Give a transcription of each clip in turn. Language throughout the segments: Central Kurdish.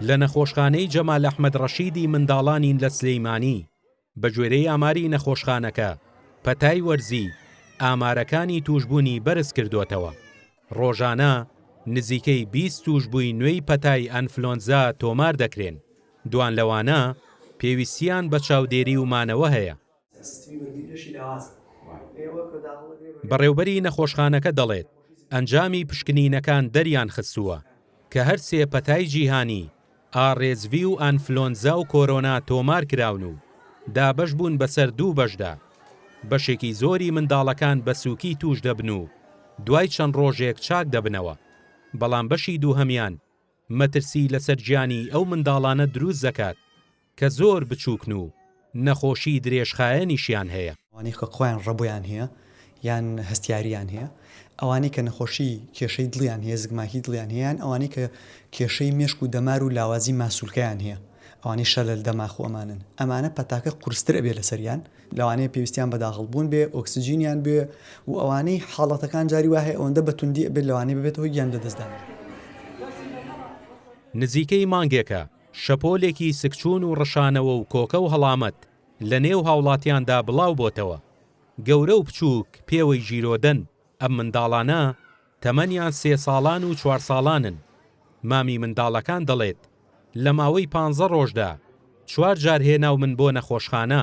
لە نەخۆشخانەی جەمال ئەحمەد ڕەشیدی منداڵانی لە سلێیمانی، بەگوێرەی ئاماری نەخۆشخانەکە، پەتای وەرزی ئامارەکانی تووشبوونی بەرزکردووەتەوە، ڕۆژانە نزیکەی بیست تووشبووی نوێی پەتای ئەنفلۆنزا تۆمار دەکرێن، دوانلەوانە پێویستییان بە چاودێری و مانەوە هەیە. بەڕێوبەری نەخۆشخانەکە دەڵێت، ئەنجامی پشکنینەکان دەریانخستووە کە هەر سێ پەتای جیهانی، ئاڕێسڤی و ئەنفلۆنزا و کۆرۆنا تۆمارکراون و دابەشبوون بەسەر دوو بەشدا، بەشێکی زۆری منداڵەکان بە سووکی تووشدەبن و دوای چەند ڕۆژێک چاکدەبنەوە، بەڵام بەشی دووهەمیان مەترسی لەسەر گیانی ئەو منداڵانە دروستدەکات. کە زۆر بچووکن و نەخۆشی درێژخایەنیشیان هەیە. ئەوانەی کە خۆیان ڕەبۆیان هەیە یان هەستیارییان هەیە، ئەوانەی کە نەخۆشی کێشەی دڵیان هەیە، زگماکی دڵیان هەیە، یان ئەوانەی کە کێشەی مێشک و دەمار و لاوازی ماسولکەیان هەیە، ئەوانەی شەلەل دەماخ و ئەمانەن، ئەمانە پەتاکە قورستر ئەبێ لەسەریان، لەوانەیە پێویستیان بە داخڵبوون بێ ئۆکسجینیان بوێ و ئەوانەی حاڵەتەکان جاری وا هەیە ئەوەندە بە توندی ئەبێت لەوانەیە ببێتە هۆی گیان لەدەستدان. نزیکەی مانگێکە شەپۆلێکی سکچوون و ڕشانەوە و کۆکە و هەڵامەت لە نێو هاوڵاتیاندا بڵاو بۆتەوە، گەورە و بچووک پێوەی ژیرۆدەن، ئەم منداڵانە تەمەنیان سێ ساڵان و چوار ساڵانن، مامی منداڵەکان دەڵێت، لە ماوەی پانزە ڕۆژدا چوار جار هێناومن بۆ نەخۆشخانە،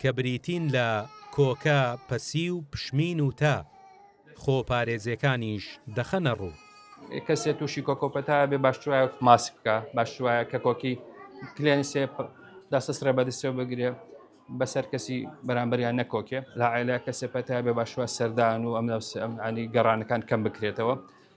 کە بریتین لە، کۆکە، پەسیو، پشمین و تا، خۆپارێزێکانیش دەخەنە ڕوو. کەسێ تووشی کۆکە و پەتا بێ باشتر وایە ماسک بکا، باشتر وایە کە کۆکی کلێنسێ دەستە سڕێ بە دەستێ و بگرێ بەسەر کەسی بەرامبەریا نەکۆکێ، لە عەیلە کەسێ پەتا بێ باشتر وایە سەردان و ئەم ئەم ئەنی گەڕانەکان کەم بکرێتەوە.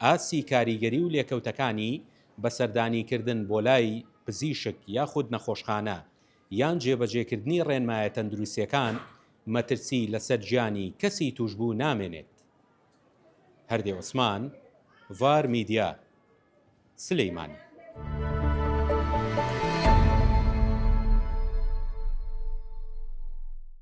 ئاستی کاریگەری و لێکەوتەکانی بە سەردانیکردن بۆ لای پزیشک یاخود نەخۆشخانە یان جێبەجێکردنی ڕێنمایە تەندروستیەکان مەترسی لەسەر گیانی کەسی توشبوو نامێنێت. هەردێ عوسمان، ڤار میدیا، سلێمانی.